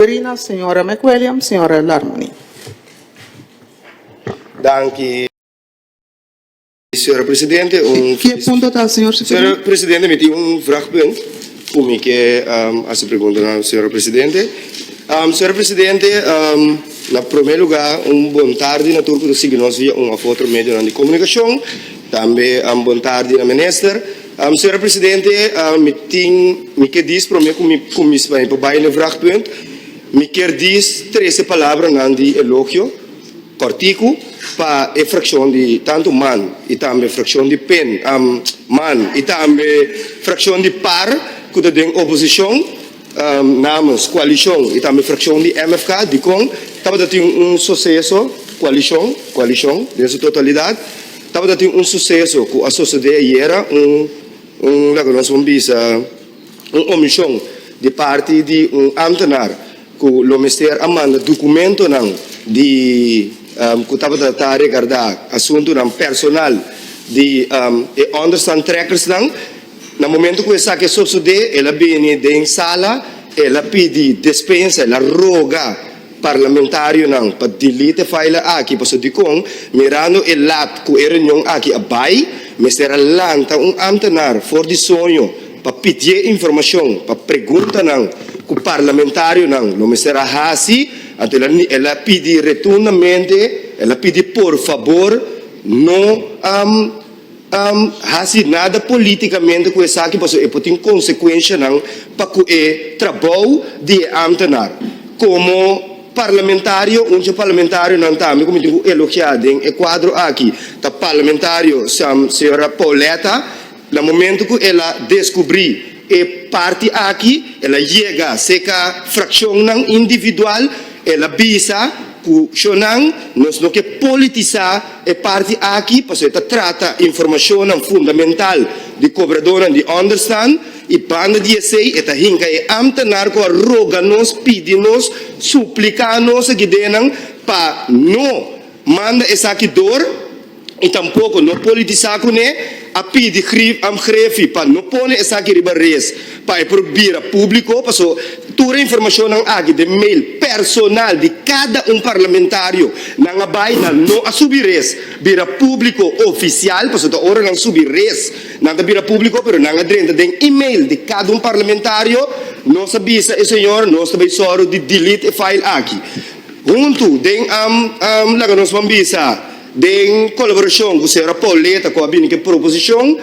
Madrina, Señora McWilliams, Señora Larmony. Danki, Señora Presidente. Un. Ki e punto ta, Señor Sipigna? Señora Presidente, mi tin un vragpunt cu mi ke hasi pregunta na Señora Presidente. Señora Presidente, na prome luga un bon tardi na tur cu ta sigui nos via un of otro medionan di comunicacion. Tambe bon tardi na Minister. Sra. Presidente, mi tin, mi ke dis prome ku mi kumis pa mi bai na e vragpunt, mi kier dis trese palabranan di elogio kòrtiku pa e frakshon di tantu man i tambe frakshon di pen, man i tambe frakshon di par ku ta den oposishon. Namens koalishon i tambe frakshon di MFK dikon tabata tin un suseso koalishon koalishon den su totalidat tabata tin un suseso ku a sosodé ayera un un loke nos por bisa un omishon di parti di un amtenar ku lo mester a manda dokumentonan di ku tabata ta regardá asuntunan personal di e ònderstaan trekkers nan. Na momento cu esaki a sosode, el a bini den sala, el a pidi despensa, el a roga parlamentarionan pa delete e file aki, pasobra dicon, mirando e laat cu e reunion aki a bay, mester a lanta un ambtenaar for di soño pa pidié informacion pa preguntanan cu parlamentarionan lo mester a haci, anto el a el a pidi retundamente, el a pidi por fabor no. hasi nada politicamente cu esaki pasobra e por tin consecuencianan pa cu e trabao di e ambtenaar. Como Parlamentario, un dje Parlamentarionan tambe cu mi tin cu elogia den e cuadro aki ta Parlamentario Sra. Pauletta, na momento cu el a descubri. E parti aki el a yega seca fraccionnan individual, el a bisa cu shonan nos no ke politisa e parti aki pasobra e ta trata informacionnan fundamental di cobradornan di understand y banda di esey e ta hinca e ambtenaar cu a roga nos, pidi nos, suplica nos aki denan pa no manda esaki door y tampoco no politisa cune, a pidi Grief am Grefi pa no pone esaki riba rees pa e por bira publico paso tur e informacionnan aki den mail personal di cada un parlamentario nan a bay nan no a subi rees bira publico oficial paso ta ora nan subi rees nan ta bira publico pero nan a drenta den email di cada un parlamentario nos a bisa e señor nos ta bay soro di delete e file aki. Huntu den am laga nos ban bisa den kolaborashon ku señora Pauleta ku a bini ku e proposishon,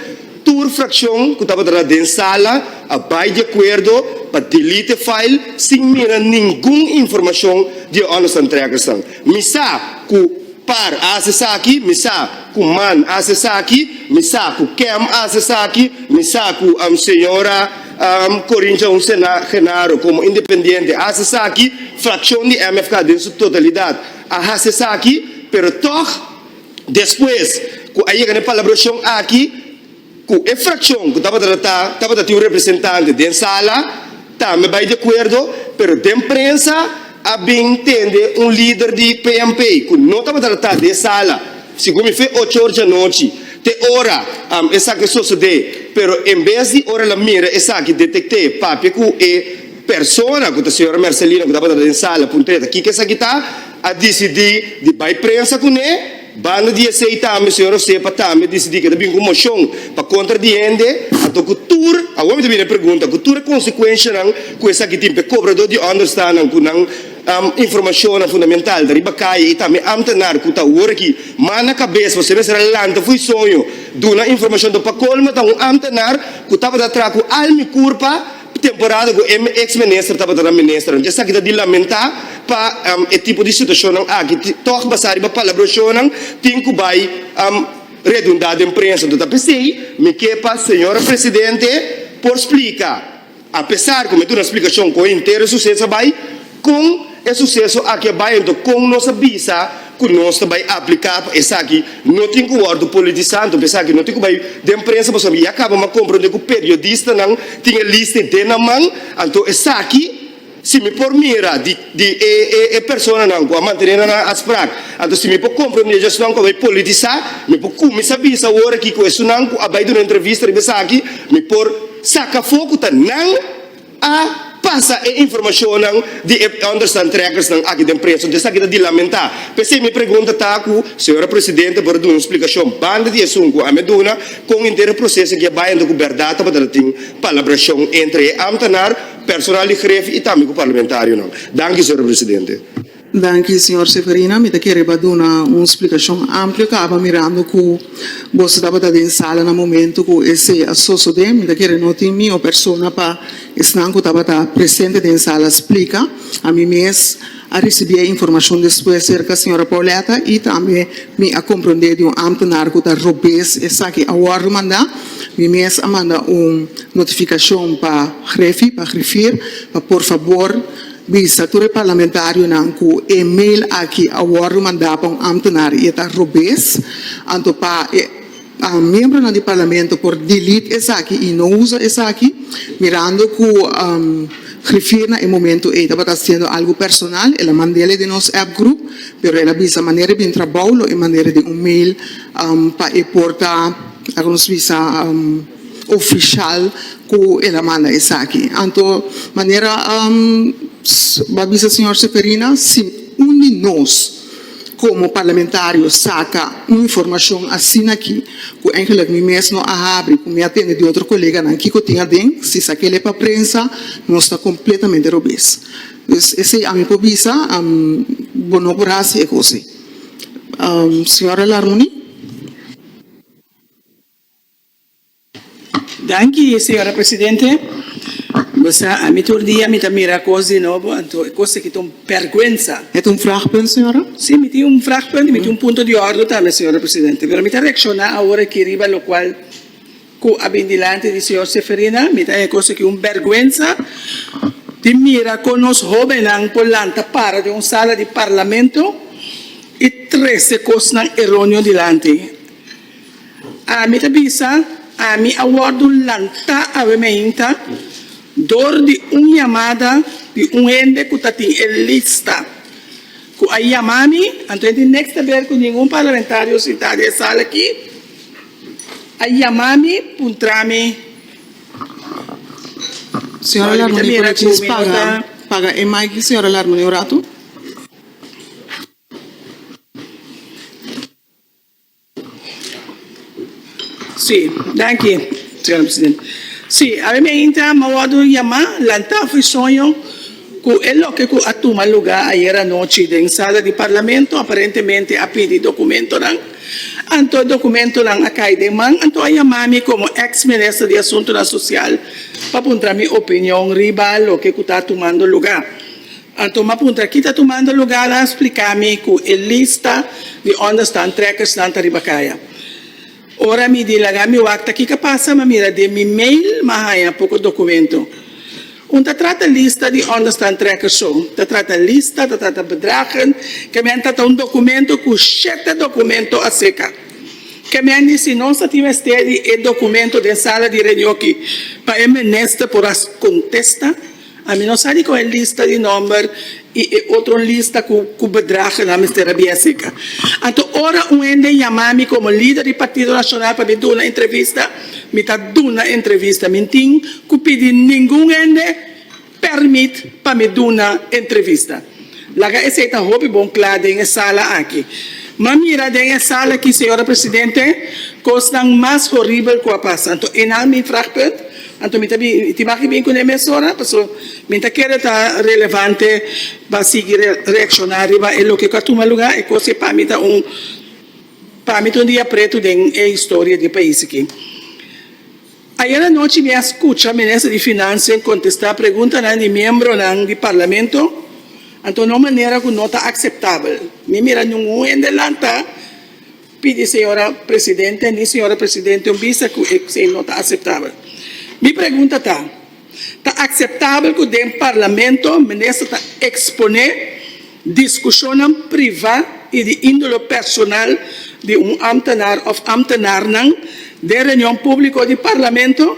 tur frakshon ku tabata na den sala a bai di akuerdo pa delete e file sin mira ningun informashon di e ònder's antrekersnan. Mi sa ku Par a hasi esaki, mi sa ku Man a hasi esaki, mi sa ku Kem a hasi esaki, mi sa ku señora. Corintian Genaro como independiente a haci esaki, fraccion di MFK den su totalidad a haci esaki, pero tog despues cu a yega na e palabracion aki cu e fraccion cu tabata ta tabata tin un representante den sala tambe bay de acuerdo, pero den prensa. A bin tende un lider di PNP ku no tabata tratá den sala, sigun mi fue ocho or dianochi, te ora esaki a sosodé, pero en bes di ora el a mira esaki detekt'é papia ku e persona ku ta señora Mercelina ku tabata den sala puntr'é ta kiko esaki ta, a disidí di bai prensa kuné. Banda di esei tambe señor José pa tambe disidí ku e ta bin ku un moshon pa kontra di hende, anto ku tur, awor mi ta bini e pregunta, ku tur e konsekuenshanan ku esaki tin pa e kobradó di ònderstanan ku nan informashonnan fundamental ta riba kaye i tambe ámtenar ku ta awor aki mas na kabes pasobra e mester a lanta fu e soño duna informashon. Dor pa kolmo ta un ámtenar ku tabata traha ku al mi kurpa. E temporada ku e eks minister tabata nan ministernan. Esaki ta di lamentá pa e tipo di situashonnan aki. Tòg basá riba palabrashonnan tin ku bai redundá den prensa. Enton ta p'esei mi ke pa señor presidente por splika, apesar ku mi duna splikashon kon e intero sucesa bai, Kon e suseso aki a bai anto kon nos a bisa ku nos ta bai apliká pa esaki? No tin ku wòrdu politisá anto pa esaki no tin ku bai den prensa pasobra ya kaba mi a komprondé ku periodistanan tin e liste den nan man anto esaki si mi por mira di e personanan ku a mantené nan a sprak anto si mi por komprondé dje esnan ku a bai politisá mi por kuminsá bisa awor aki ku esunnan ku a bai duna entrevista riba esaki mi por saka afó ku ta nan A pasa e informashonnan di e understandtrekkersnan aki den preso. Desaki ta di lamentá. P'esei mi pregunta ta ku Señora Presidente a por a duna un splikashon banda di esun ku ami a duna, kon henter e proseso aki a bai anto ku bèrdat tabata ta tin palabrashon entre e ámtanar, personal di gref i tambe ku parlamentarionan. Danki, Señora Presidente. Danki, señor Severina. Mi ta kere pa duna un splikashon amplio. Kaba mirando ku boso tabata den sala na momento ku esei a sosodé. Mi ta kere no tin mi o persona pa esnan ku tabata presente den sala splika. Ami mes a risibí e informashon despues serka señora Pauletta i tambe mi a komprondé di un ámtenar ku ta robes esaki a wòrdu mandá. Mi mes a manda un notifikashon pa Hreffi, pa Griffier, pa por fabor, Bisa tur e parlamentarionan ku e mail aki a wòrdu mandá pa un ámtenar i e ta robes, anto pa e miembronan di parlamento por delete esaki i no usa esaki, mirando ku Griffier na e momentu ei tabata hasiendo algu personal, el a mand'el den nos app groep, pero el a bisa manera di bin trabou lo e manera den un mail pa e por ta, laga nos bisa. ofishal ku el a manda esaki. Anto manera bo a bisa señor Seferina si un di nos komo parlamentario saka un informashon asina aki ku engelik mi mes no a habri ku mi a tende di otro koleganan kiko tin aden si sa kele pa prensa nos ta kompletamente robes. Pues esei ami por bisa bo no por hasi e kos ei. Señor Alarmuni. Danki señora presidente. Bo sa ami tur dia mi ta mira kos di nobo anto e kos aki ta un pèrguensa. E ta un vragpunt señora? Sí, mi tin un vragpunt y mi tin un punto di ordo tambe señora presidente. Pero mi ta reakshoná awor aki riba lokual ku a bin dilanti di señor Seferina. Mi ta haña kos aki un bèrguensa di mira kon nos hóbennan por lanta para den un sala di parlamento y trese kosnan eróneo dilanti. Ami ta bisa, Ami a wòrdu lantá awe mainta dor di un yamada di un hende ku tatin e lista ku a yama mi, anto hende nèks ta ber ku ningun parlamentario sintá den e sala aki a yama mi puntra mi. Señora Larmoni por e chis paga e mic di señora Larmoni un ratu. Sí, danki, señora presidenta. Sí, awor mi a intra, mi a wòrdu yamá, lantá fu e soño ku e loke ku a tuma lugá ayer anochi den sala di Parlamento, aparentemente a pidi dokumentonan, anto e dokumentonan a kai den man, anto a yamá mi komo èks minister di Asuntunan Sosial pa puntra mi opinion riba loke ku ta tumando lugá. Anto m'a puntra, Ki ta tumando lugar? A spliká mi ku e lista di unda stan trekkersnan ta riba kaya. Ora mi di laga mi wak ta kiko pasa, m'a mira den mi mail m'a haña poko dokumento. Un ta trata lista di unda stan trekkers so, ta trata lista, ta trata bedragen, ke men ta ta un dokumento ku shete dokumento aseka. Ke men di si nos ta tin mester di e dokumento den sala di reunion aki pa e minister por a kontesta? Ami no sa di kon e lista di nòmber i e otro lista ku bedragnan a mester a bia sika. Anto ora un hende yama mi komo lider di Partido Nacional pa mi duna entrevista, mi ta duna entrevista. Mi n'tin ku pidi ningun hende pèrmit pa mi duna entrevista. Laga esei ta hopi bon kla den e sala aki. M'a mira den e sala aki, señora presidente, kosnan mas horibel ku a pasa. Anto e nan mi frag punt. Anto mi ta bin tin bak i bin kuné mesora, paso mi ta kere ta relevante pa sigui reakshoná riba e loke ku a tuma lugá, e kos ke pa mi ta un pa mi ta un dia pretu den e historia di e pais aki. Ayera anochi mi a scucha Minister di Financia en contesta preguntanan di miembronan di Parlamento, anto na un manera cu no ta aceptabel. Mi mira ningun hende lanta pidi Señora Presidente ni Señora Presidente un bisa cu esey no ta aceptabel. Mi pregunta ta, Ta akseptabel ku den Parlamento minister ta eksponé diskushonnan privá i di índolo personal di un ámtenar òf ámtenarnan den reunion públiko di Parlamento?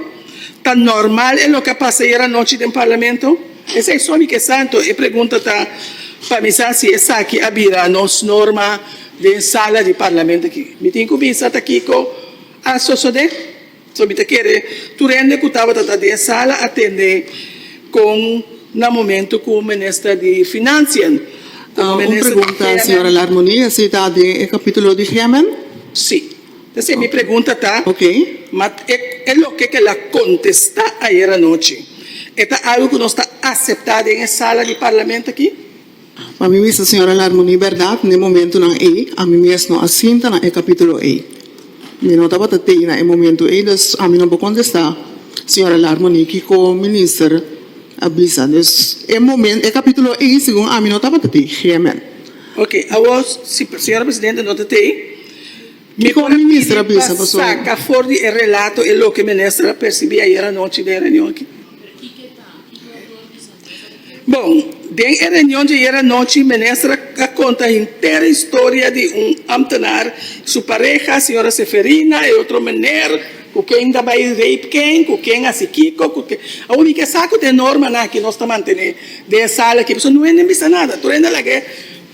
Ta nòrmal e loke a pasa ayer anochi den Parlamento? Esei so mi ke sa, anto e pregunta ta pa mi sa si esaki a bira nos norma den sala di Parlamento aki. Mi tin ku bisa ta kiko a sosodé. So mi ta kere tur hende ku tabata ta den e sala atende kon na momentu ku minister di Finansian ku minister di Hemen. Un pregunta señora Larmonie, si ta den e kapitulo di Hemen? Si. Entonces e mi pregunta ta, ma e loke ku el a kontesta ayer anochi e ta algu ku nos ta aseptá den e sala di Parlamento aki? Pa mi mester señora Larmoni berdad na e momentunan ey, ami mes no a sinta na e capitulo ey. Mi no tabata tey na e momento ey, dus ami no por contesta señora Larmoni kico minister a bisa. Dus e momen, e capitulo ey segun ami no tabata tey. Gemen. Ok, awor si señora presidente no ta tey, mi por a pidi pa saca for di e relato e loke minister a percibi ayer anochi den e reunion aki. Bon, den e reunion dje ayer anochi, Minister a conta henter historia di un ambtenaar, su pareha, Señora Seferina, e otro meneer cu ken ta bay rape ken, cu ken haci kico, cu ken. A unica sa cu ta e normanan aki nos ta mantene den e sala aki, pasobra no hende a bisa nada, tur hende a laga e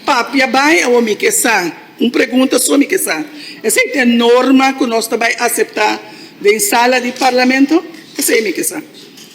papia bay, a unica e sa, un pregunta so mi ke sa, esey ta e norma cu nos ta bay acepta den sala di Parlamento? Esey mi ke sa.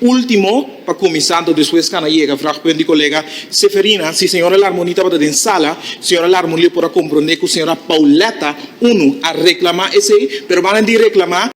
Ultimo pa kuminsá ta despues Hannah yega vraag punt di kolega Seferina si señora Larmoni tabata den sala, señora Larmoni lo por a komprondé ku señora Pauletta unu a reklamá esei, pero manan di reklamá,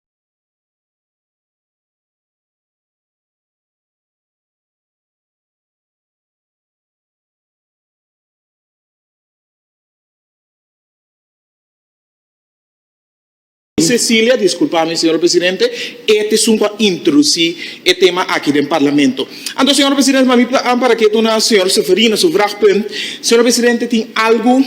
Cecilia, Disculpa mi, señor presidente, e tiesun cu a introduci e tema aki den Parlamento. Anto, señor presidente, pa mi ta an para ke duna señor Severino su vraagpunt. Señor presidente, tin algu,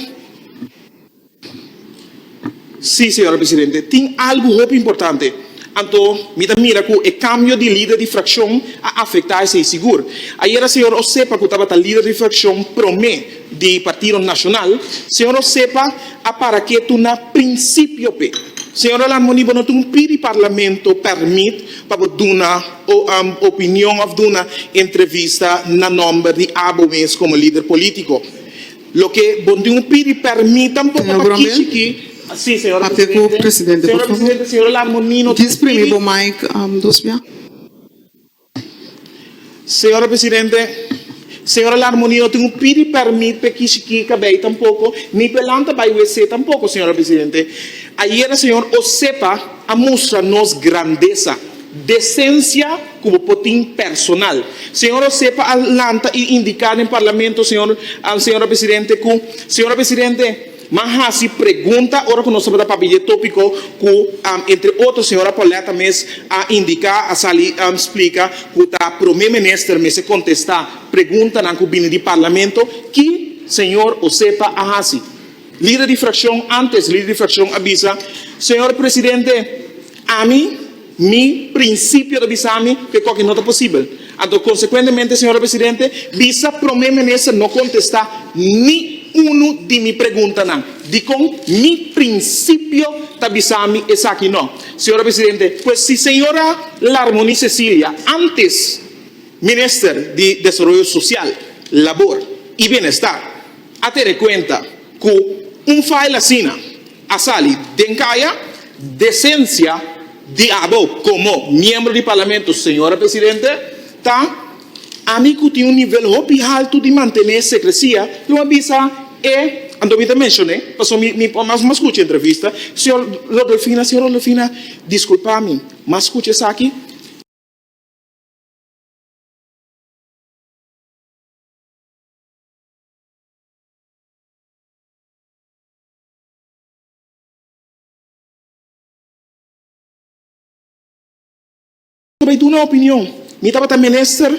si, señor presidente, tin algu hopi importante. Anto, mi ta mira cu e cambio di lider di fraccion a afecta esey sigur. Ayera señor Osepa, cu tabata lider di fraccion prome, di Partido Nacional, señora sepa a para ke tu na principio pe. Señora Lamoni bo no tin un pidi Parlamento permit pa bo duna opinion of duna entrevista na nomber di abo mes como lider politico. Loke bo tin un pidi permit tampoco pa kichi ki. Si señora Presidente. Señora Presidente, señora Lamoni no tin un pidi. Señora Presidente, Señora Larmonie no tin cu pidi permit p'e kishi ki cabey tampoco, ni p'e lanta bay wc tampoco, Señora Presidente. Ayera Señor Osepa a mustra nos grandesa, decencia cu bo por tin personal. Señor Osepa a lanta y indica den Parlamento, Señor, Señora Presidente, cu, Señora Presidente, M'a hasi pregunta ora ku nos tabata papia e tópiko ku entre otro señora Pauletta mes a indiká, a sali splika ku ta Promé Minister mester kontestá preguntanan ku bini di Parlamento, ki señor o sepa a hasi. Lider di frakshon, ántes lider di frakshon a bisa, Señor Presidente, ami, Mi principio ta bisa mi cu e coki no ta posibel. Anto consecuentemente, Señora Presidente, bisa Prome Minister no contesta ni uno di mi preguntanan. Dicon mi principio ta bisa mi esaki no? Señora Presidente, pues si Señora Larmony Cecilia, antes Minister di Desaroyo Social, Labor y Bienestar, a tene cuenta cu un file asina, a sali den kaya desensia di abo komo miembro di Parlamento, Señora Presidente, ta ami ku tin un nivel hopi haltu di mantené sekresia, lo a bisa e anto mi ta menshoné, pasobra mi mi mas mas skucha e entrevista, Señor Rodolfina, Señor Rodolfina, diskulpá mi, mas skucha esaki. Ta bay duna opinion. Mi tabata minister,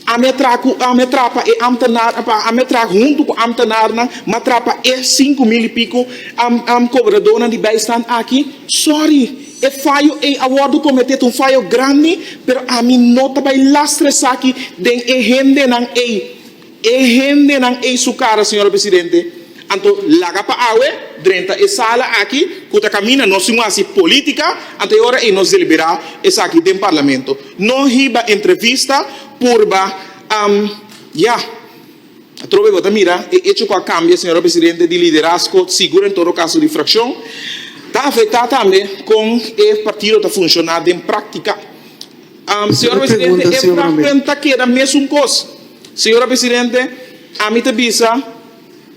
ami a traha cu, ami a traha pa e ambtenaar, pa ami a traha hunto cu ambtenaarnan, mi a traha pa e sinku mil y pico am, am cobradonan di bijstand aki. Sorry, e fayo ey a wordo comete, ta un fayo grandi, pero ami no ta bay lastra esaki den e hendenan ey. E hendenan ei su cara, señora presidente. Anto laga pa awe drenta e sala aki cu ta camina nos tin un haci politica, anto e ora ei nos delibera esaki den Parlamento. No hiba entrevista, purba, am, ya. Atrobe bo ta mira e hecho cu a cambia, señora presidente, di liderazgo, sigur en todo caso di fraccion. Ta afecta tambe con e partido ta funciona den practica. Am, señora presidente, e fraccion ta keda mesun cos. Señora Presidente, ami ta bisa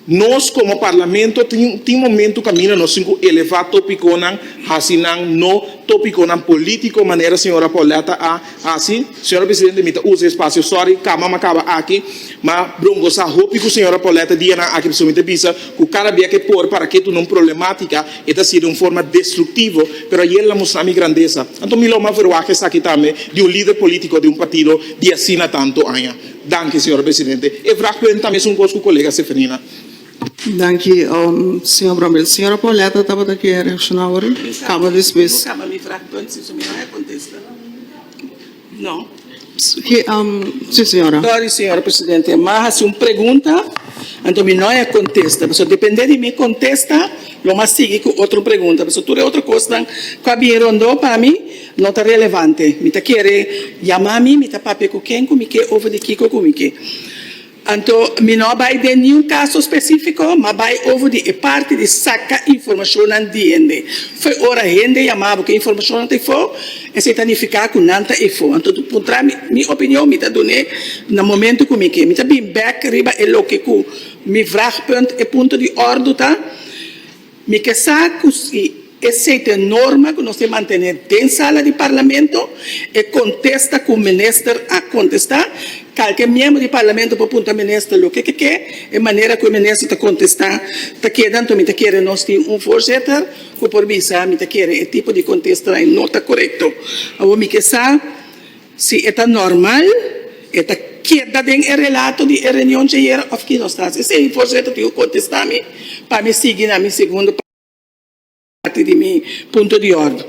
nos como Parlamento tin momento caminda nos tin cu eleva topiconan, haci nan no topiconan politico manera señora Pauletta a haci. Señora Presidente, mi ta usa e espacio, sorry, cama m'a caba aki, ma brongosa hopi cu señora Pauletta dianan aki, pasobra mi ta bisa cu cada bia que por para ke tuna un problematica, E ta hasi den un forma destruktivo, pero a yel a mustra mi grandesa. Anto mi lo mas verwaga esaki tambe di un lider politiko di un partido di asina tantu aña. Danki, señora presidente. E vraag por hen tambe es un kos ku kolega Seferina. Danki, señor Bromel. Señora Pauletta tabata ke reakshoná awor? Kaba despues. Si, señora. Sorry, señora presidente. Mi a hasi un pregunta, anto mi no a contesta. Pasobra depende di mi contesta, lo mi a sigui cu otro pregunta. Pasobra tur e otro cosnan cu a bin rondó pa mi no ta relevante. Mi ta kere yama mi, mi ta papia cu ken cu mi ke over di kiko cu mi ke. Anto mi no a bai den niun kaso spesífiko, mi a bai over di e parti di saka informashonnan di hende. Fo ora hende yama bo ku e informashonnan ta efo, esei ta nifiká ku nan ta efo. Anto tu puntra mi mi opinion, mi ta dun'é na momentu ku mi ke. Mi ta bin bèk riba e loke ku mi vragpunt, e punto di òrdu, ta. Mi ke sa ku si e sete norma ku nos tin mantené den sala di Parlamento e kontesta ku minister a kontestá. Kalke miembro di Parlamento por punta minister loke ke ke. E manera ku e minister ta kontestá ta keda anto mi ta kere nos tin un voorzitter ku por bisa mi ta kere e tipo di kontesta ei no ta korekto. Awor mi ke sa. Si e ta normal, e ta keda den e relato di e reunion djayera of ki no ta así? Sey, Voorzitter, tin ku kontestá mi pa mi sigui na mi segundo parti di mi punto di órden.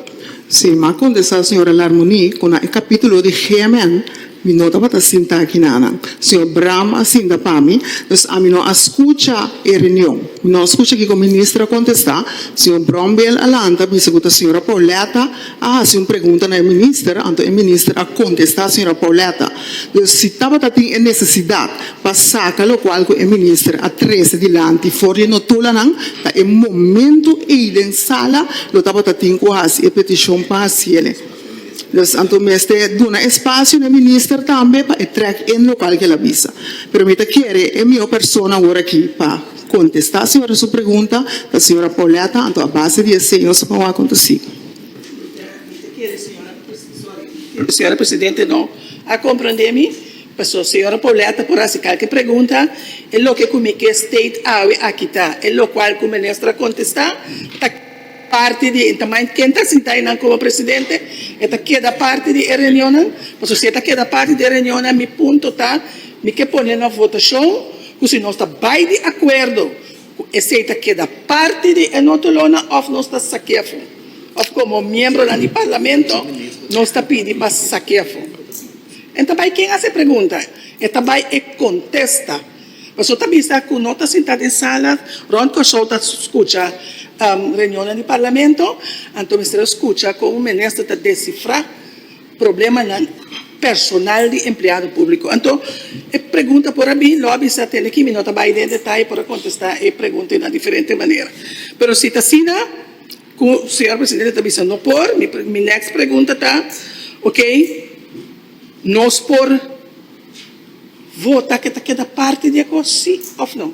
Si, m'a kontestá señora Larmonie ku na e kapítulo di GMN mi no tabata sinta aki nanan. Señor Bram a sinta pa mi, dus ami no a skucha e reunion. Mi no a skucha kiko Minister a kontestá. Señor Brombeel a lanta a bisa ku ta señora Pauletta. a hasi un pregunta na e minister, anto e minister a kontestá señora Pauletta. Dus si tabata tin e nesesidat pa saka lokual ku e minister a trese dilanti for di e notolannan, ta e momentu ei den sala lo tabata tin ku hasi e petishon pa hasiele. Dus anto mester duna espasio na e minister tambe pa e trèk en lokual ku el a bisa. Pero mi ta kere e mihó persona awor aki pa kontestá señora su pregunta ta señora Pauletta, anto a base di e seños ku a kontesí. Señora presidente no a comprende mi, paso señora Pauletta por haci calke pregunta, e loke cu mi ke state awe a kita, e locual cu minister a contesta ta parti di, ta mind ken ta sinta eynan como presidente, e ta keda parti di e reunionnan, paso si e ta keda parti di e reunionnan mi punto ta mi ke pone na votacion cu si nos ta bay di acuerdo Cu esey ta keda parti di e notelonan of nos ta sakefu, of como miembronan di Parlamento nos ta pidi pa sakefu. En ta bay ken hace pregunta, e ta bay e contesta. Paso ta bisa cu no ta sinta den sala, Ron Koushou ta scucha reunionnan di Parlamento, anto mester a scucha como minister ta descifra. problemanan personal di empleado públiko. Anto e pregunta por a bin lòbi sa tende ki mi no ta bai den detaye por a kontestá e pregunta ei na diferente manera. Pero si ta asina ku señor presidente ta bisa no por, mi mi next pregunta ta, Okey, nos por vota ku e ta keda parti di e kos, sí òf no?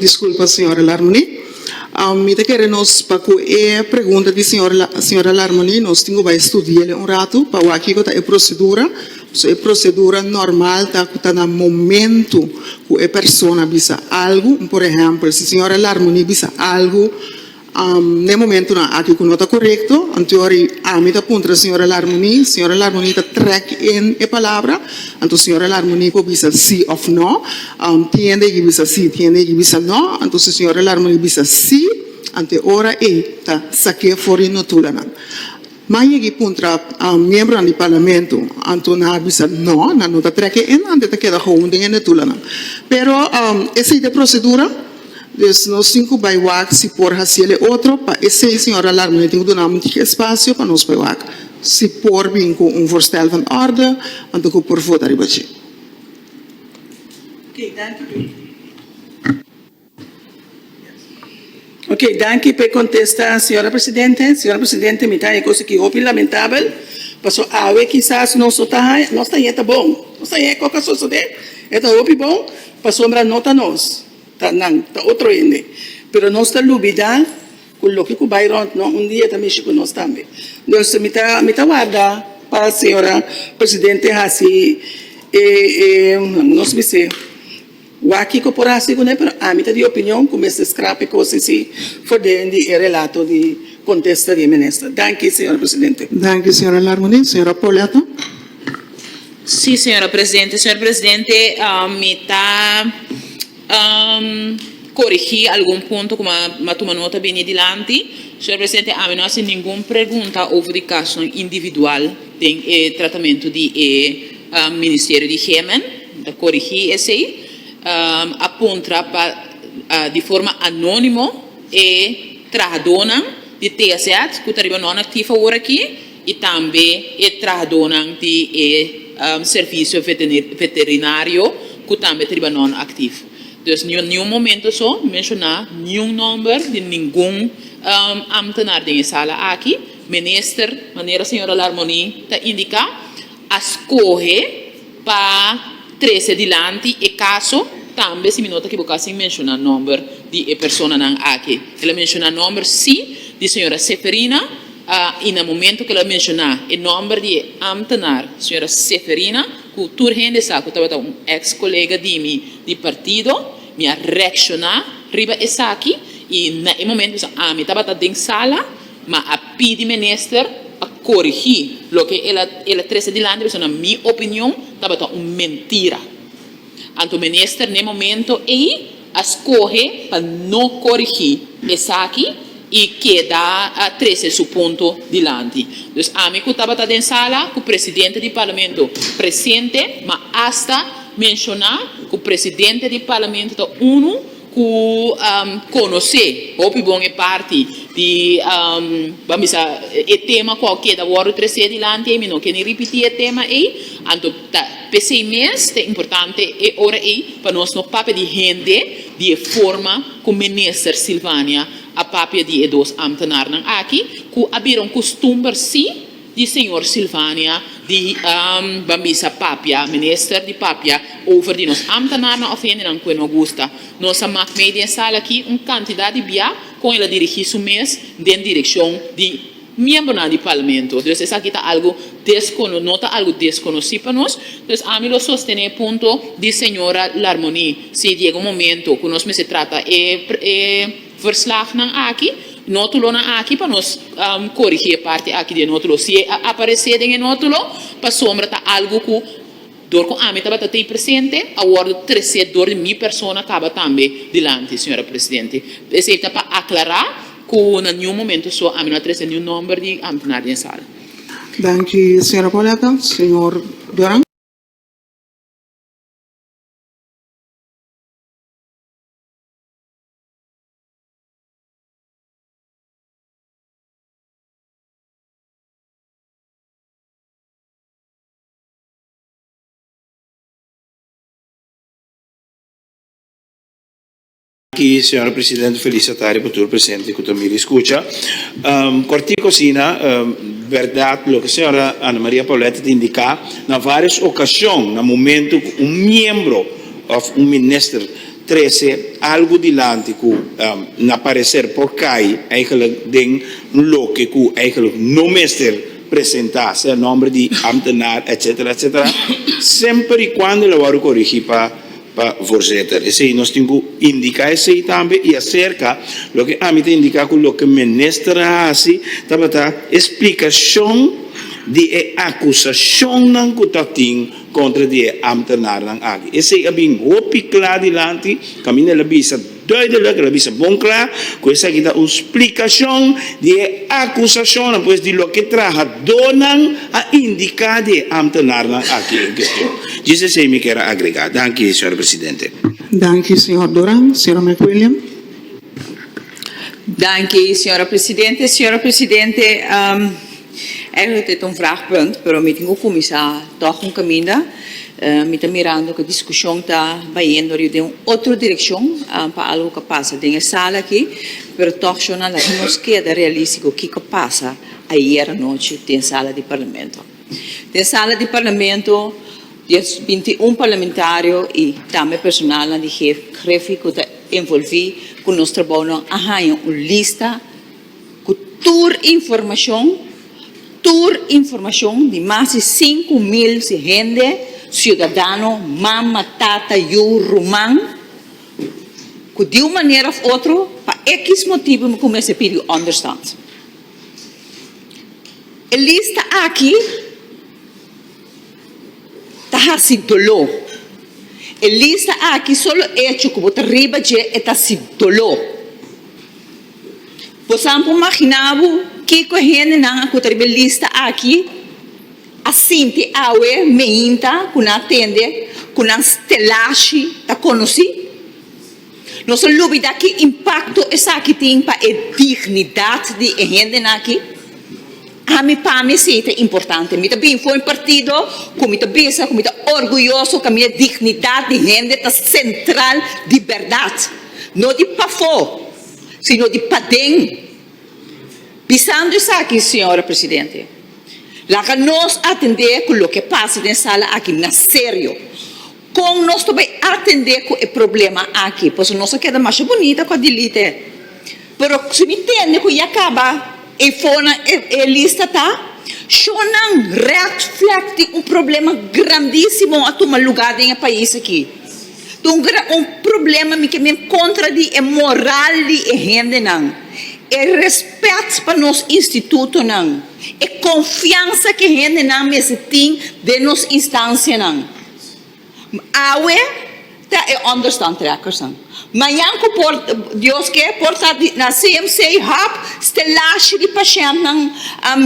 Disculpa señora Larmony mi ta kere nos pa cu e pregunta di señora Larmony nos tin cu bay studiael un ratu pa wak kico ta e procedura so e procedura normal ta cu ta na momento cu e persona bisa algo por ehempel si señora Larmony bisa algo. N'e momentunan aki ku no ta korekto, anto ora ami ta puntra di señora Larmuní, señora Larmuní ta trèk in e palabra, anto señora Larmuní por bisa sí òf nò, tiende ei bisa sí, tiende ei bisa nò, anto si señora Larmuní bisa sí, anto e ora ei ta sak'é for di no tulanan. Ma yegi puntra miembronan di parlamento anto a bisa no nan no ta trek e ennan te ta keda houn den e netulanan pero esei ta e procedura dus nos tin cu bay wak si por haciel e otro pa esei señor Alarme mi tin cu duna un montiki espacio pa nos bay wak si por bin cu un voorstel van orde anto cu por vota riba dje. Ok, danki p'e kontesta señora presidente. Señora presidente, mi ta haña kos aki hopi lamentabel, paso awe kisas nos no ta haña, nos ta haña e ta bon, nos ta haña e koko a sosode, e ta hopi bon, pasobra no ta nos, ta nan, ta otro hende. Pero nos ta lubida ku loke ku bai rònt nos un dia ta mishi ku nos tambe. Dus mi ta mi ta warda pa señora presidente hasi e e nos mester Wak kiko por hasi ku nan, pero ami ta di opinion ku mester skrap e kos esei for den di e relato di kontesta di e minister. Danki, señora presidente. Danki, señora Larmunie. Señora Poletto. Sí, señora presidente. Señor presidente, mi ta korigí algun punto ku mi a tuma nota bini dilanti. Señor presidente, ami no a hasi ningun pregunta over di kasonan individual. Den e tratamentu di e Ministerio di Hemen, mi ta korigí esei, a puntra pa di forma anónimo e trahadónan di TSZ ku ta riba nonaktivo awor aki i tambe e trahadónan di e Servisio Veterinario ku tambe ta riba nonaktivo. Dus no niun momento so menshoná niun nòmber di ningun ámtenar den e sala aki. Minister, manera señora Larmoni ta indica, a scoge pa trece dilanti e caso, tambe si mi no ta equivoca sin menciona nomber di e personanan aki. El a menciona nomber si, di señora Seferina, y na momento que el a menciona e nomber di e ambtenaar señora Seferina, cu tur hende sa cu tabata un ex colega di mi di partido, mi a reacciona riba esaki y na e momento mis ami tabata den sala, Ma a pidi minister pa corigi loke el a el a trece dilanti pasobra na mi opinion tabata un mentira. Anto minister n'e momento ey a scoge pa no corigi esaki y keda a trece su punto dilanti. Dus ami cu tabata den sala cu presidente di Parlamento presente ma hasta menciona cu presidente di Parlamento ta uno ku konosé hopi bon e parti di ban bisa e tema ku a keda wòrdu tresé dilanti ei, mi no ke ni ripití e tema ei, anto ta p'esei mes ta importante e ora ei pa nos no papia di hende di e forma ku Minister Sylvania a papia di e dos ámtenarnan aki ku a bira un kustumber si. di señor Sylvania di Ban bisa papia minister di papia over di nos ambtenaarnan of hendenan cu e no gusta. Nos a mak mei den sala aki un cantidad di bia con el a dirigi su mes den direccion di miembronan di Parlamento. Dus esaki ta algo descono no ta algo desconoci pa nos. Dus ami lo sostene e punto di señora Larmonie si diego momento cu nos mester trata e e. Verslagnan aki, notulonan aki pa nos korigi e parti aki di e notulo. Si e a aparesé den e notulo, pasobra ta algu ku dor ku ami tabata tei presente, a wòrdu tresé dor di mi persona kaba tambe dilanti, señora presidente. Esei ta pa aklará ku na niun momento so ami no a tresé niun nòmber di ámtenar den sala. Danki, señora Palacio. Señor Duran. Aki señora presidente feliz atari pa tur presente cu ta mira y scucha. Um, cortico asina, um, berdad loke señora Ana Maria Paulette ta indica, na varios ocasion, na momento cu un miembro of un minister, Trese algu dilanti ku na pareser por kai eigenlijk den loke ku eigenlijk no mester presentá, sea nòmber di ámtenaar, etsetera, etsetera, semper i kuando lo wòrdu korigí pa Voorzitter. Esei nos tin ku indiká esei tambe i aserka loke ami ta indiká ku loke minister a hasi tabata esplikashon di e akusashonnan ku ta tin Kontra di e ámtenarnan aki. Esei a bin hopi kla dilanti, pasobra el a bisa duidelik, el a bisa bon kla, ku esaki ta un splikashon di e akusashonnan, pues di loke trahadónan a indiká di e ámtenarnan aki en kestion. Djis esei mi kier a agregá. Danki, señor presidente. Danki, señor Duran. Señor McWilliam. Danki, señora presidente. Señor presidente. Eigenlijk e ta un vraagpunt, pero mi tin cu cuminsa toch un caminda. Mi ta mirando cu e discusion ta bayendo riba den un otro direccion pa algo cu a pasa den e sala aki, pero toch yo no a laga nos keda realistico kico a pasa ayer anochi den sala di Parlamento. Den sala di Parlamento dies binti y un parlamentario y tambe personalnan di Gef, Grefi cu ta envolvi cu nos trabounan a hanja un lista, ku tur informashon, tur informashon di mas di sinku mil si hende, siudadano, mama, tata, yu, ruman, ku di un manera òf otro pa ekis motibu ku mester pidi ònderstand. E lista aki ta hasi doló. E lista aki, solo echo ku bo ta riba dje e ta hasi doló. Boso a por maginá bo kiko e hendenan ku ta riba e lista akí a sinti awe meinta ku nan a tende ku nan stelashi ta konosí? Nos a lubidá ki impakto esaki tin pa e dignidat di e hendenan akí. Ami pa mi sí ta importante. Mi ta bini for mi partido ku mi ta bisa ku mi ta orguyoso ku ami e dignidat di hende ta sentral di bèrdat, no di pafó. sino di paden. Bisando esaki, señora presidente, laga nos atendé cu loke pasa den sala aki na serio. Con nos ta bay atendé cu e problema aki? Pasobra nos a keda masha bunita cu a delete. Pero si mi tende cu ya caba e fonan, e lista ta shonnan red flag di un problema grandisimo a tuma lugar den e pais aki. Dungera un problema mi ke mi en kontra di e moral di e hendenan, e rèspèt pa nos institutonan, e konfiansa ke hendenan mester tin den nos instansianan. Awe ta e understandtrekkersnan. Mañan ku por Dios ke por ta di na CMC hòp stelashi di pashèntnan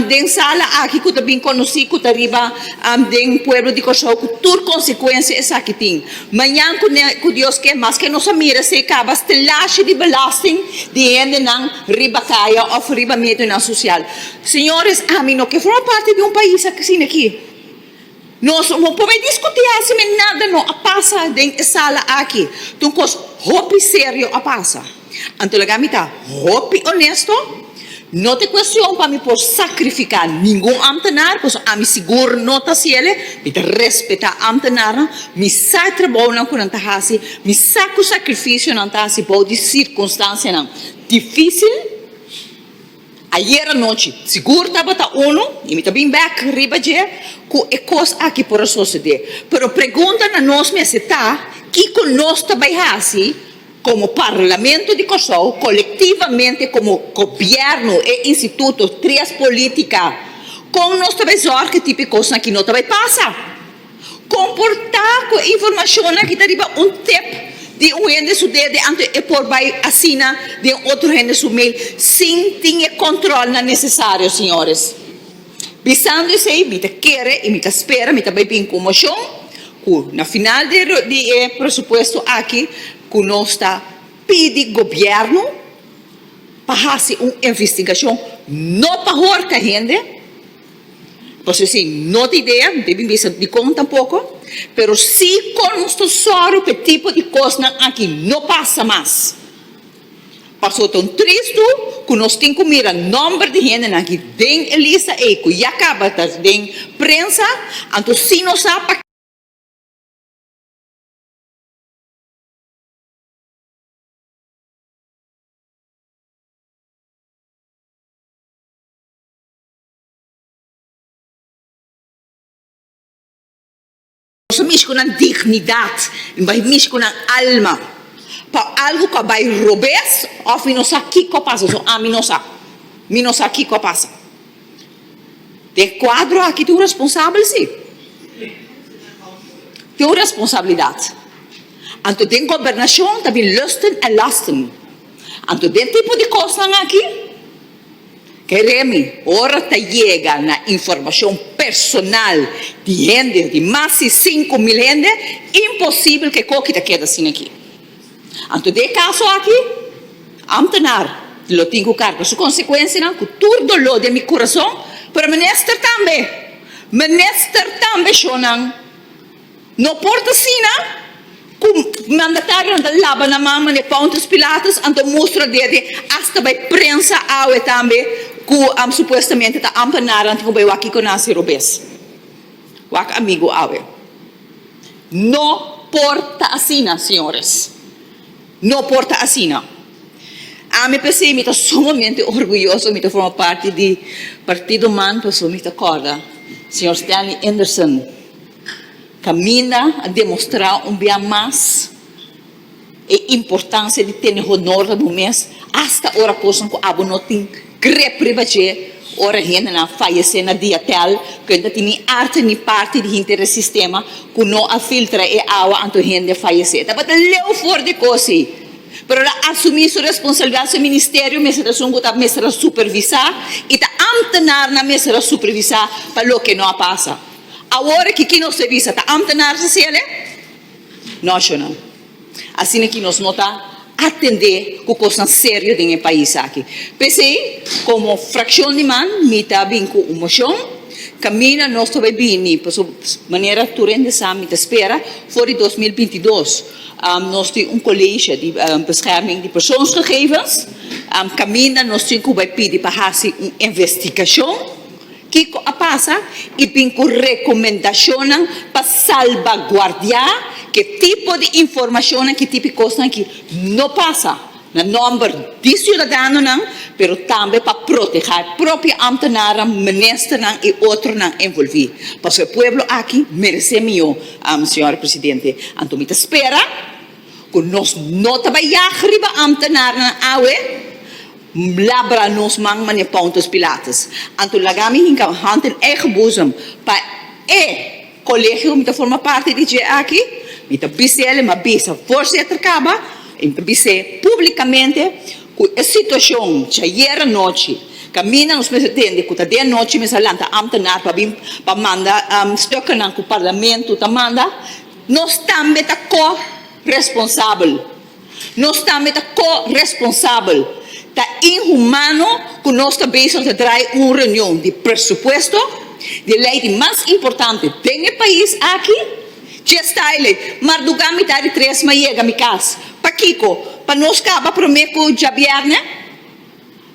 den sala aki ku ta bin konosí ku ta riba Am den pueblo di Kòrsou ku tur konsekuensia esaki tin. Mañan ku Dios ke, maske nos a mira esei kaba stelashi di belasting di hendenan riba kaya òf riba medionan sosial. Señores, ami no ke forma parti di un pais asina aki. Nos no por mei diskutí hasi men nada no a pasa den e sala aki. Tin un kos hopi serio a pasa. Anto laga mi ta hopi onesto, No ta cuestion pa mi por sacrifica ningun ambtenaar, cos ami sigur no ta haci el'e, mi ta respeta ambtenaarnan, mi sa e trabounan cu nan ta haci, mi sa cu sacrificio nan ta haci bou di circunstancianan dificil. Ayer anochi sigur tabata unu y mi ta bin bek riba dje cu e cos aki por a sosode. Pero pregunta na nos mester ta, kico nos ta bay haci como Parlamento di Corsou, colectivamente como Gobierno, e instituto, tres politica? Con nos ta bay zorg cu e tipo di cosnan aki no ta bay pasa? Comportá cu e informacionnan ki ta riba un tep di un hende su dede anto e por bay asina den otro hende su mail sin tin e controlnan necesario, señores. Bisando esey mi ta kere y mi ta spera mi ta bay bin cu un mocion cu na final di e di e presupuesto aki cu nos ta pidi gobierno pa haci un investigacion no pa horca hende, Pasobra si no ta idea, no ta bin bisa dikon tampoko, pero si kon nos ta sòru pa e tipo di kosnan aki no pasa mas. Pasobra ta un tristu ku nos tin ku mira nòmber di hendenan aki den e lista ei ku ya kaba ta den prensa, anto si no sa pa. Boso mishi ku nan dignidat i bai mishi ku nan alma pa algu ku a bai robes òf mi no sa kiko a pasa. So ami no sa. Mi no sa kiko a pasa. Den e kuadro aki tin un responsabel, si. Tin un responsabilidat. Anto den gobernashon ta bin lusten en lasten. Anto den tipo di kosnan aki. Keremi, ora ta yega na informashon personal di hende, di mas di sinku mil hende, imposibel ku e koki ta keda sin aki. Anto den e kaso aki, ámtenar lo tin ku karga su konsekuensianan ku tur doló den mi kurason, pero minister tambe, minister tambe shonnan. No por ta asina cu mandatarionan ta laba nan man manera Pontius Pilatus, anto mustra dia te hasta bay prensa awe tambe cu supuestamente ta ampa nara nan tin cu bay wak kico nan hasi robes, wak amigo awe. No por ta asina señores, no por ta asina. Ami pesey mi ta sumamente orguyoso mi ta forma parti di partido man pasobra mi ta corda señor Stanley Enderson, Camina a demostrá un bia mas e importansia di tene honor pa bo mes, asta ora kosnan ku abo no tin grip riba dje, ora hendenan a fayesé na diatèl, ku e no ta tin ni arte ni parti di henter e sistema ku no a filtra e awa anto hende fayesé. Tabata leu for di kosi, pero el a asumí su responsalbidat, su ministerio mester ta esun ku ta mester a supervisá i ta ámtenarnan mester a supervisá pa loke no a pasa. Awor aki ki nos ta bisa ta amtenar sa si el e nashonal. Asina ki nos no ta atende ku kosnan serio den e pais aki. P'esei komo frakshon di man mi ta bin ku un moshon kaminda nos ta bai bini pasobra manera tur hende sa mi ta spera for di dos mil binti dos nos tin un kolesha di bescherming di persoonsgegevens kaminda nos tin ku bai pidi pa hasi un investigashon. Kiko a pasa? I bin ku rekomendashonnan pa salbaguardiá ke tipo di informashonnan ki tipi kosnan aki no pasa na nòmber di siudadanonan, pero tambe pa protehá e propio ámtenaran, ministernan i otronan envolví. Pasobra e pueblo aki meresé mihó, señor presidente. Anto mi ta spera ku nos no ta bai yag riba ámtenarnan awe. Labra nos man, manera Pontus Pilatus. Anto laga mi hinka hònt den eigen boezem pa e kolegio ku mi ta forma parti di dje aki. Mi ta bis'é el, ma bisa voorzitter kaba, i mi ta bis'é públikamente ku e situashon djayer anochi kaminda nos mester tende ku ta de anochi mester a lanta ámtenar pa bin pa manda stukennan ku parlamento ta manda, nos tambe ta ko-responsabel. Nos tambe ta co-responsabel. Ta inhumano cu nos ta bezig ta draai un reunion di presupuesto, di e ley di mas importante den e pais aki, dje style, mardugá mitad di tres m'a yega mi cas. Pakico? Pa nos caba prome cu djabierne?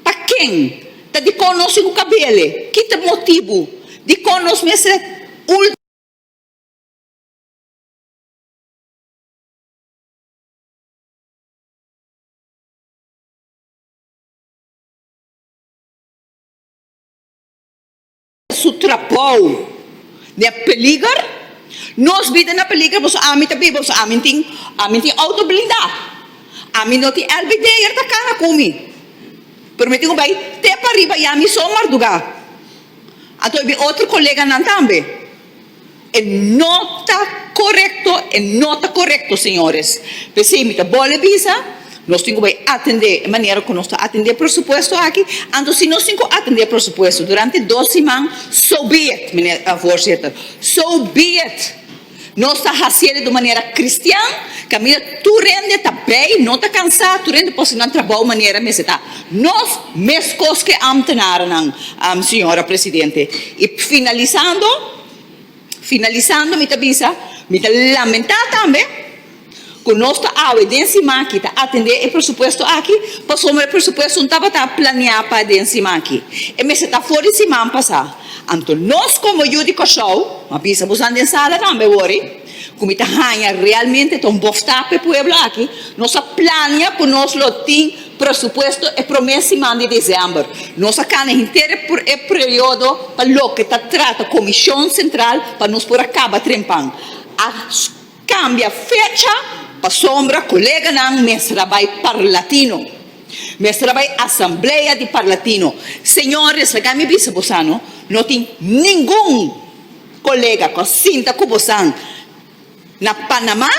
Pa ken? Ta dicon nos tin cu cabele? Ki ta motibu? Dicon nos mester ultima? su trabou den e peliger, nos bida na peliger pasobra ami ta biba, pasobra ami tin ami tin outo blindá, ami no tin elbe deger ta kana ku mi, pero mi tin ku bai te pa riba ya mi so mardugá, anto e bin otro koleganan tambe. E no ta korekto, e no ta korekto, señores. P'esei mi ta bole bisa, nos tin ku bai atendé e manera ku nos ta atendé e presupuesto aki, anto si nos tin ku atendé e presupuesto durante dos siman, so be it, mine-, Voorzitter, so be it. Nos ta hasié di un manera kristian, kaminda tur rende ta bei, no ta kansá, tur rende por sinan trabou manera mester ta Nos meskos ke ámtenarenan, Señora Presidente. I finalisando, finalisando mi ta bisa, mi ta lamentá tambe ku nos ta awe den sima aki ta atendé e presupuesto aki pasobra e presupuesto no tabata planeá pa den sima aki. E mester ta for di siman pasá. Anto nos komo yu di Kòrsou, a bisa busan den sala tambe wòri, Ku mi ta haña realmente ta un bofta p'e pueblo aki, nos a plania ku nos lo tin presupuesto e promé siman di desèmber. Nos a kana henter e e periodo pa loke ta trata Komishon Sentral pa nos por a kaba trempan. A kambia fecha pasobra koleganan mester a bai parlatino, mester a bai asamblea di parlatino. Señores, laga mi bisa boso no tin ningun. Colega cu a sinta cu bosan na Panama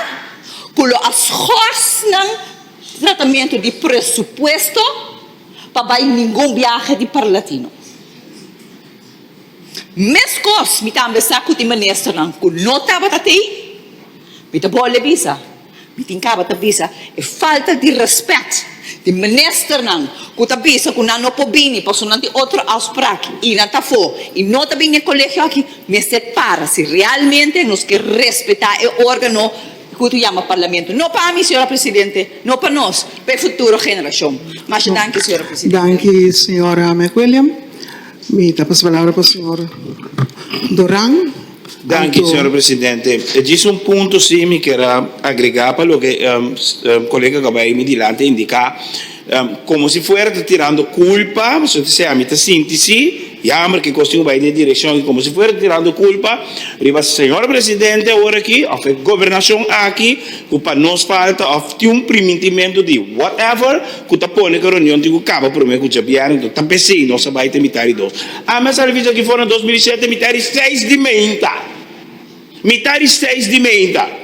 cu lo a schors nan tratamento di presupuesto pa bay ningun biahe di Parlatino. Mescos mi tambe sa cu tin ministernan cu no tabata t'ey, mi ta bole bisa. Mi tin caba ta bisa e falta di respect di minister nan cu ta bisa cu nan no por bini pasobra nan tin otro afspraak y nan ta afo y no ta bini e colegio aki mester para si realmente nos ke respeta e organo cu ta yama parlamento no pa mi señora presidente no pa nos pa e futuro generacion masha danki señora presidente. Danki señora Mc William. Mi ta pasa palabra pa señor Doran. Danki señor presidente. E djis un punto si mi kier a agrega pa loke colega cu a bay mi dilanti a indica. Como si fuera ta tirando culpa, pasobra ta siy mi ta sinti si, jammer ki cos tin cu bay den e direccion aki, como si fuera ta tirando culpa riba señor presidente awor aki of e gobernacion aki cu pa nos falta of tin un primintimento di whatever. ku ta pone ku e reunion tin ku kaba promé ku djabièrnè, enton ta p'esei nos a bai te mitá di dos. Ami a sali fit'akí for na dos mil i shete mitá di seis di meinta, mitá di seis di meinta.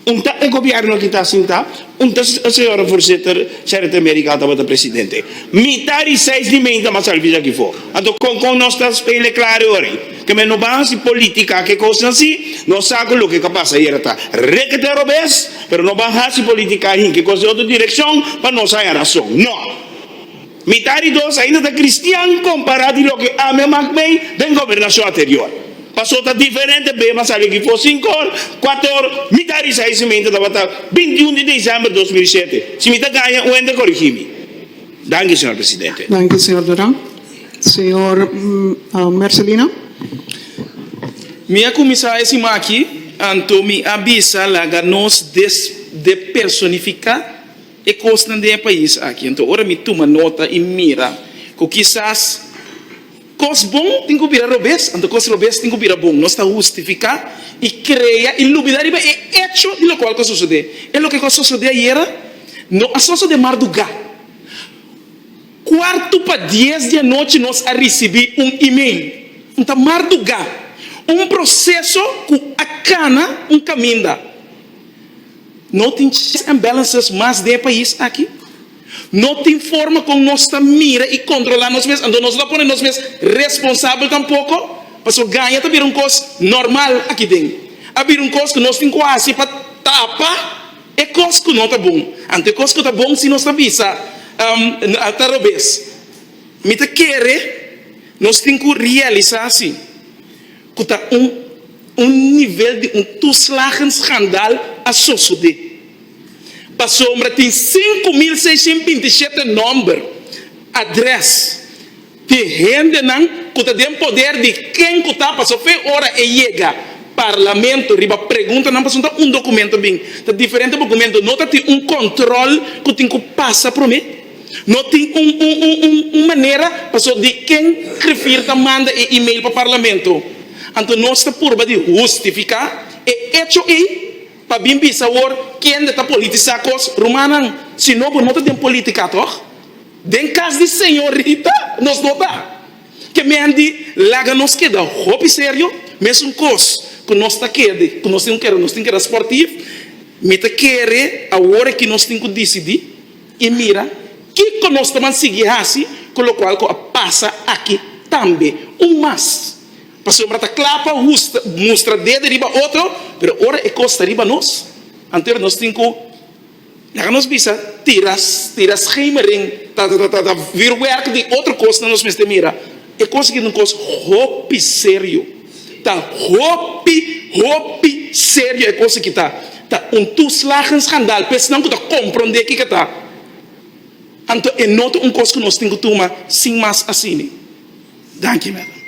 Un ta e gobièrnu akí ta sintá, un ta e señora Voorzitter Gerrit de Merigal tabata presidente. Mitá di seis di meinta mi a sali fit'akí for. Anto kon kon nos ta spele kla riba ei? Keme no ban hasi politica ke cosnan si, no sa cu loke ca pasa ayera ta rekete robes, pero no ban hasi politica ahin ke cos di otro direccion pa nos haña razon. No! Mi ta di dos ainda ta cristian compara di loke ami a mak mei den gobernacion aterior. Paso ta diferente bema sali aki for sinku or, cuatu or, mi ta risa ey si mi ainda tabata binti un di december dos mil i shete. Si mi ta gaña un hende corigi mi. Danki, señor presidente. Danki, señor Duran. Señor Marcelino. Mi a kuminsá e siman aki, anto mi a bisa laga nos depersonifiká e kosnan den e pais aki. Anto ora mi tuma nota i mira ku kisas kos bon tin ku bira robes, anto kos robes tin ku bira bon. Nos ta hustifiká i krea i lubidá riba e echo di lokual ku a sosodé. E loke ku a sosodé ayera no a sosodé mardugá. Kuartu pa dies di anochi nos a risibí un email. Un ta mardugá. Un proseso ku a kana un kaminda. No tin checks and balances mas den e pais aki. No tin forma kon nos ta mira i kontrolá nos mes, anto nos lo a pone nos mes responsabel tampoko. Pasobra gaña ta bira un kos normal akinden. A bira un kos ku nos tin ku hasi pa tapa. E kos ku no ta bon, anto e kos ku ta bon si nos ta bisa ta robes. Mi ta kere nos tin ku realisá si ku ta un un nivel di un tuslagen skandal a sosodé. Pasobra tin sinku mil seishent binti shete nòmber, adrès. Di hendenan ku ta den poder di ken ku ta paso fe ora e yega Parlamento riba preguntanan pasunta un dokumento bin ta diferente bokumento no ta tin un kòntròl ku tin ku pasa promé no tin un un un un un manera paso di ken rifir ta manda e email pa Parlamento anto nos ta purba di hustifiká e echo ei pa bin bisa awor kende ta politisá kos rumannan si no bo no ta den politika tòg. Den cas di señorita nos no ta ke men di laga nos keda hopi serio mesun cos cu nos ta kede cu nos tin cu keda nos tin keda sportivo mi ta kere awor aki nos tin cu dicidi y mira kico nos ta ban sigui haci cu locual cu a pasa aki tambe un mas pasobra ta cla pa husta mustra dedo riba otro pero ora e cos ta riba nos anto nos tin cu. Laga nos bisa, tira schemering ta vir werk di otro cos na nos mester mira. E cos aki ta un cos hopi serio, ta hopi, hopi serio e cos aki ta. Ta un toeslagen schandaal pa esnan cu ta compronde kico ta. Anto e no ta un cos cu nos tin cu tuma sin mas asina. Danki Madam.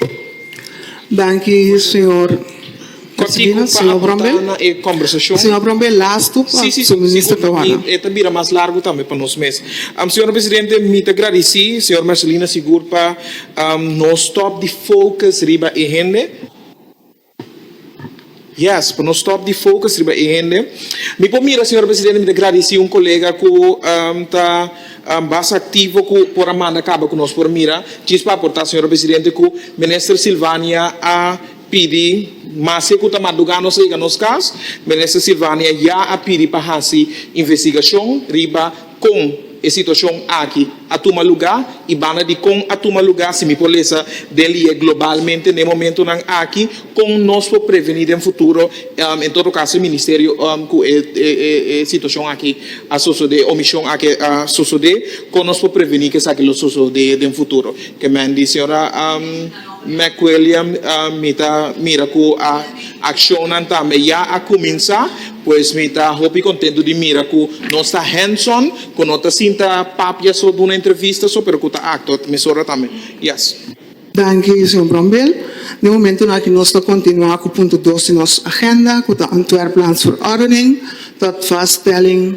Danki señor. Kortiku pa aporta na e kombersashon. Señor Brombe lastu pa su Minister Caruana. E ta bira mas largu tambe pa nos mes. Señor Presidente mi ta gradisi señor Marcelino Sigur pa no stop di focus riba e hende. Yes, pa no stop di focus riba e hende. Mi por mira, señor presidente, mi ta gradici un colega cu ta bas activo cu por a manda caba cu nos, por mira djis pa aporta, señor presidente, cu Minister Sylvania a pidi, maske cu ta madruga nos a yega nos cas, Minister Sylvania ya a pidi pa haci investigacion riba. Kon e situashon aki a tuma lugá i banda di kon a tuma lugá, si mi por lesa den lié globalmente n'e momentunan aki, kon nos por prevení den futuro, en todo kaso e ministerio ku e situashon aki a sosodé o mishon aki a sosodé, kon nos por prevení ku esaki lo sosodé den futuro? Ke men di señora. McWilliam, Mi ta mira ku akshonnan tambe ya a kuminsá, pues mi ta hopi kontentu di mira ku nos ta hands-on, ku no ta sinta papia so duna entrevista so, pero ku ta aktua mesora tambe. Yes. Danki, señor Brombill. Den momentunan aki nos ta kontinuá ku punto dos di nos agenda, ku ta Antwerp Lands Verordening tot vaststelling.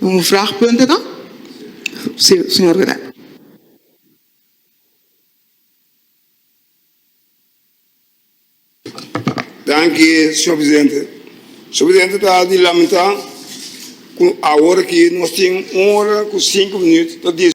Un vrag punto no? Si, señor Benet. Danki, señor presidente. Señor presidente, ta di lamenta cu awor aki nos tin un ora cu sinku minuut pa discu.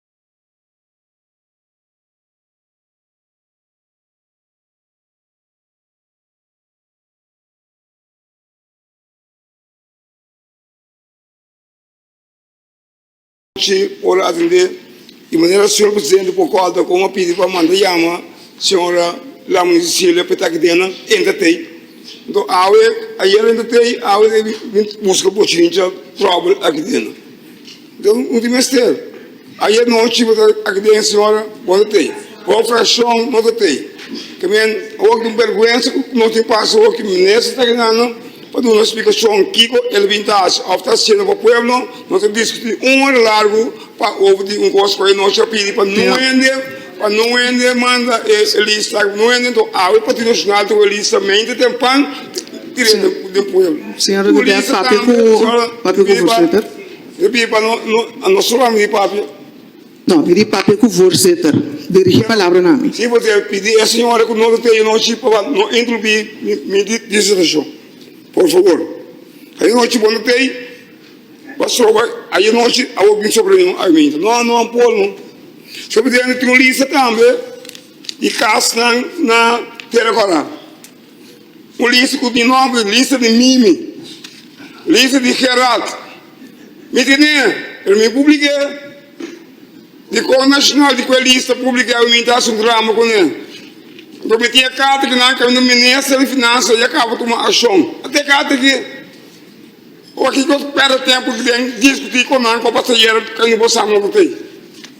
Anochi ora atende di manera señor presidente por cua ta con a pidi pa manda yama señora Lamony Cecilia pa e taki den nan entra te enton awe ayer entra te awe e bin busca bochincha trouble aki den nan. Don no tin mester. Ayer nochi bo ta aki den señora bo ta tey. Bo fraccion no ta tey. Ta men hopi di berguensa cu no tin pasa hopi cu minister ta rinando pa duna explicacion kico el a bin ta haci of ta haciendo pa pueblo. No ta discuti un ora largo pa hopi di un cos cu e nochi a pidi pa no hende, pa no hende manda e lista aki pa no hende. Enton awe Partido Nacional ta cu e lista mente tempan ta tira den pueblo. Su lista tambe señora ta pidi pa. E bin pa no no a no solo a mi papia. No, e di papia ku Voorzitter. Dirigi palabra na mi. Si bo ta pidi e señora ku no ta teye nochi pa bo no interrumpí mi disertashon. Por favor. Ayanochi bo no ta ei pasobra ayanochi a bo bin sopla mi un argumento. No, no a por no. Sopatende tin un lista tambe di kas nan na Terra Quadrada. Polis ku di nòmber lista di Mimi, lista di Gerald, mi tene, pero mi publik'é di Kor Nashonal di ku e lista publik'é awe mi ta hasi un drama kuné. Anto mi tin e karta aki nan kaminda minister di finansia ya kaba tuma akshon ata e karta aki. Ora kiko ta pèrdè tempu den diskutí ku nan ku a pasa ayera kaminda bo sa nan ta tei.